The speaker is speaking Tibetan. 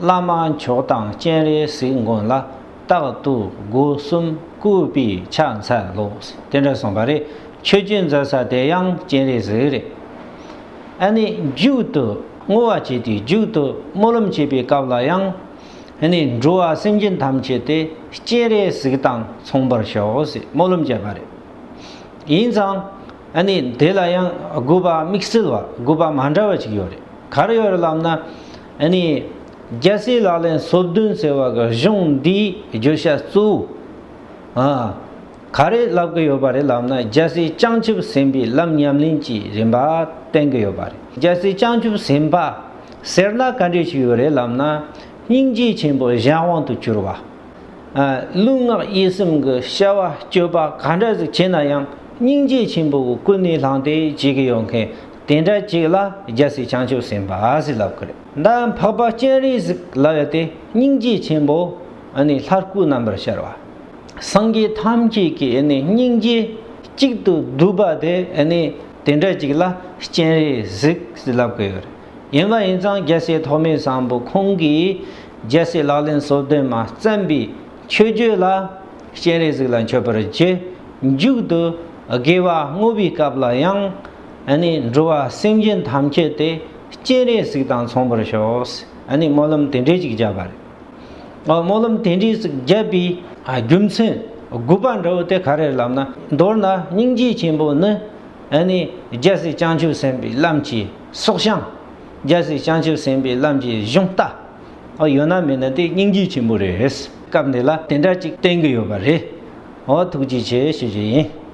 བླ་མ་མཆོག་དང་སྤྱན་རས་གཟིགས་མགོན་ལ་རྟག་ཏུ་སྒོ་གསུམ་བཀུར་པས་ཕྱག་འཚལ་ལོ། དེ་འདྲ་གསུངས་པ་རེད། ཆོས་རྒྱུན་མཛད་ས་དེ་ཡང་སྤྱན་རས་གཟིགས་རེད། ཨ་ནི་རྒྱུགས་དུ་བསྔོ་བ་བྱས་ཏེ་རྒྱུགས་དུ་སྨོན་ལམ་བྱེད་པའི་སྐབས་ལ་ཡང། ཨ་ནི་འགྲོ་བ་སེམས་ཅན་ཐམས་ཅད་དེ་སྤྱན་རས་གཟིགས་དང་མཚུངས་པར་ཤོག་ཟེར་སྨོན་ལམ་བྱས་པ་རེད། ཡིན་ཙང། ཨ་ནི་དེ་ལ་ཡང་དགོས་པ་དམིགས་བསལ་བ་དགོས་པ་མ་འདྲ་བ་ཅིག་ཡོད་རེད། ག་རེ་ཡོད་རེད་ལབ་ན། ཨ་ནི། རྒྱལ་སྲས་ལག་ལེན་སོ་བདུན་ཟེར་བ་གི་གཞུང་འདིའི་བརྗོད་བྱ་གཙོ་བོ། ག་རེ་ལབ་ཀི་ཡོད་པ་རེད་ལབ་ན་རྒྱལ་སྲས་བྱང་ཆུབ་སེམས་དཔའི་ལམ་ཉམས་ལེན་གྱི་རིམ་པ་བསྟན་གི་ཡོད་པ་རེད་རྒྱལ་སྲས་བྱང་ཆུབ་སེམས་དཔའ་ཟེར་ན་ག་འདྲས་ཞིག་ཡོད་རེད་ལབ་ན་སྙིང་རྗེ་ཆེན་པོ་གཞན་དབང་དུ་གྱུར་བ། ལུས་ངག་ཡིད་སེམས་ཀྱི་བྱ་བ་སྤྱོད་པ་ག་འདྲ་ཟིག་བྱེད་ན་ཡང་སྙིང་རྗེ་ཆེན་པོ་གི་སྐུ་ནི་ལྷང་སྟེ་བྱེད་ཀི་ཡོད་མཁན་དེ་འདྲ་གཅིག་ལ་རྒྱལ་སྲིད་བྱང་ཆུབ་སེམས་དཔའ་ཨ་སི་ལབ་ཀི་རེད། མདའ་འཕགས་པ་སྤྱན་རས་གཟིགས་ལ་བས་ཏེ་སྙིང་རྗེ་ཆེན་པོ་ནི་ལྷ་སྐུ་རྣམ་པར་ཤར་བ། སངས་རྒྱས་ཐམས་ཅད་ཀྱི་སྙིང་རྗེ་གཅིག་ཏུ་བསྡུས་པ་དེ་ནི་དེ་འདྲ་གཅིག་ལ་སྤྱན་རས་གཟིགས་ལབ་ཀི་ཡོད་རེད། ཡིན་པ་ཡིན་ཙང་རྒྱལ་སྲས་ཐོགས་མེད་བཟང་པོ་ཁོང་གིས་རྒྱལ་སྲས་ལག་ལེན་གསོལ་སྟོན་མ་བརྩམས་པའི་ཆོས་བརྒྱུད་ལ་སྤྱན་རས་གཟིགས་ལ་མཆོད་པར་རྗེས་འཇུག་ཏུ་དགེ་བ་བསྔོ་བའི་སྐབས་ལ་ཡང། ནི་འགྲོ་བ་སེམས་ཅན་ཐམས་ཅད་དེ་སྤྱན་རས་གཟིགས་དང་མཚུངས་པར་ཤོག་ནི་སྨོན་ལམ་དེ་འདྲས་ཅིག་བརྒྱབ་པ་རེད། སྨོན་ལམ་དེ་འདྲས་ཅིག་བརྒྱབ་པའི་རྒྱུ་མཚན་དགུ་པ་འདྲ་བོ་དེ་ག་རེ་ལབ་ན། མདོར་ན་སྙིང་རྗེ་ཆེན་པོ་ནི། ནི་རྒྱལ་སྲས་བྱང་ཆུབ་སེམས་དཔའི་ལམ་གྱི་སྲོག་ཤིང། རྒྱལ་སྲས་བྱང་ཆུབ་སེམས་དཔའི་ལམ་གྱི་གཞུང་རྟ། ཡོད་ན་མེད་ན་དེ་སྙིང་རྗེ་ཆེན་པོ་རེད། སྐབས་འདི་ལ་དེ་འདྲ་ཅིག་བསྟན་གྱི་ཡོད་པ་རེད། ཐུགས་རྗེ་ཆེ་ཞེས་བརྗོད་ཡིན།